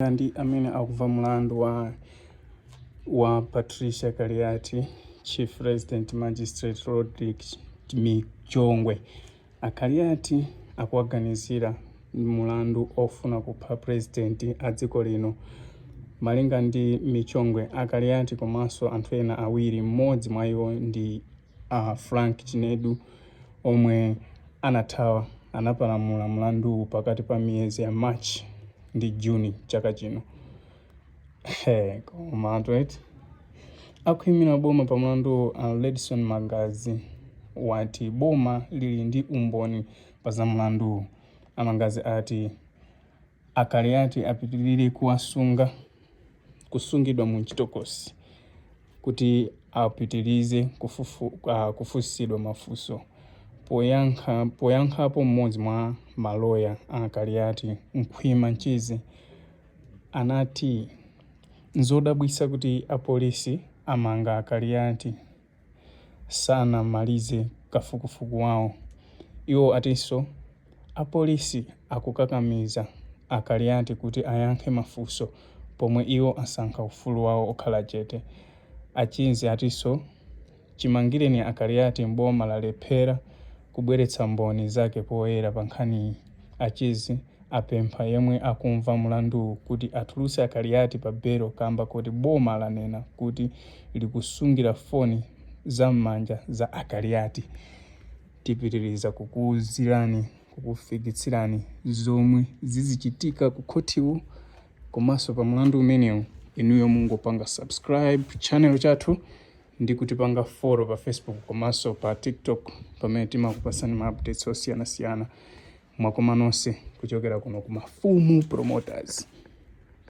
Malinga ndi amene akumva mlandu wa Patricia Kaliati, Chief Resident Magistrate Rodrick Michongwe, a Kaliati akuwaganizira mlandu ofuna kupha president a dziko lino. Malinga ndi Michongwe, a Kaliati komanso anthu ena awiri, mmodzi mwa iwo ndi a Frank Chinedu omwe anathawa anapalamula mlanduwu pakati pa miyezi ya March ndi June chaka chino. Hey, koma anthu eti akuimira boma pa mlanduwu a Ledson Mangazi wati boma lili ndi umboni pa za mlanduwu. Amangazi ati A Kaliati apitilire kuwasunga, kusungidwa mu mchitokosi kuti apitilize kufunsidwa mafunso. Poyankha poyankhapo m'modzi mwa maloya a a Kaliati, Khwima Mchizi, anati nzodabwitsa kuti apolisi amanga a Kaliati. sanamalize kafukufuku wawo. Iwo atinso apolisi akukakamiza a Kaliati kuti ayankhe mafunso pomwe iwo asankha ufulu wawo okhala chete. A Chizi atinso chimangireni a Kaliati boma lalephera kubweretsa mboni zake poyera pa nkhaniyi, a Chizi apempha yemwe akumva mulanduwu kuti atulutse a Kaliati pa belo kamba koti boma lanena kuti likusungira foni za m'manja za a Kaliati. Tipitiriza kukuuzirani, kukufikitsirani zomwe zizichitika ku khothiku komanso pa mulandu umenewu, inuyo mungopanga subscribe channel chathu. ndi kutipanga follow pa Facebook komanso pa TikTok pamene timakupasani ma updates osiyanasiyana. Mwakoma nonse kuchokera kuno ku Mafumu Promoters.